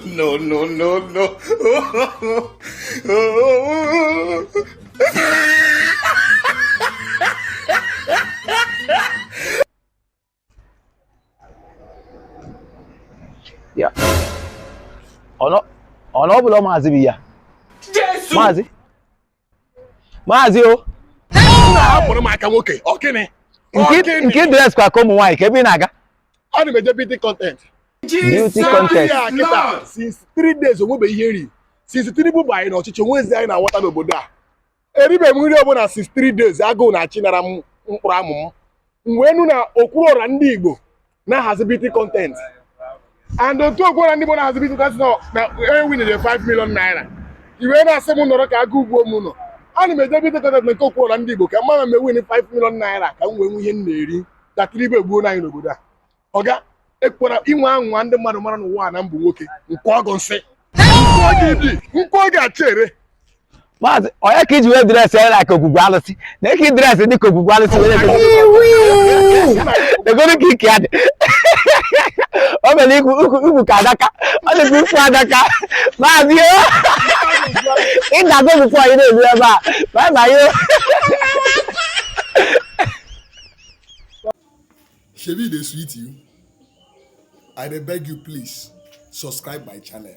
no, no, no, no. ya ọ na ọ bụrọ maazị bịa maazị maazị o hapụrụ m aka nwoke ọ gịnị nke i dress kwa ka ụmụ nwaanyị kee ebe ị na-aga ana m eje beauty content beauty contest kịta since three days onwebe ihe m ri since tinubu banye n'ọchịchị onwezi anyị na-awọta n'obodo a eribe m nri ọbụla since three days agụụ na-achịnara m mkpụrụ amụ m m wee nụ na okwuluọra ndị igbo na-ahazi beauty content and otu okwuluọra ndị Igbo na-ahazi beauty content nọ na ewin dị 5 million naira ị wee na-asị m nọrọ ka agụụ gbuo m no ana m eje beauty content na nke okwuluọra ndị Igbo ka m ma ma m ewin 5 million naira ka m wee nwee ihe m na-eri ka tinubu egbuo anyị n'obodo a ọga ekwara inwe anwa ndị mmadụ mara n'ụwa a na mbụ nwoke nke ọgụ nsị nkụ oge achị ere maazị ọ ya ka i ji wee dressịa like ogwugwu alụsị na eke dress dị ka ogwugwu alụsị were ego egoro ka ike ya dị o mere ikwu ukwu ukwu ka adaka ọ dịkwa ukwu adaka maazị o ị ga-agụ bụkwa anyị na-ezu ebe a ma ma yo Shebi dey sweet you. I dey beg you please subscribe my channel.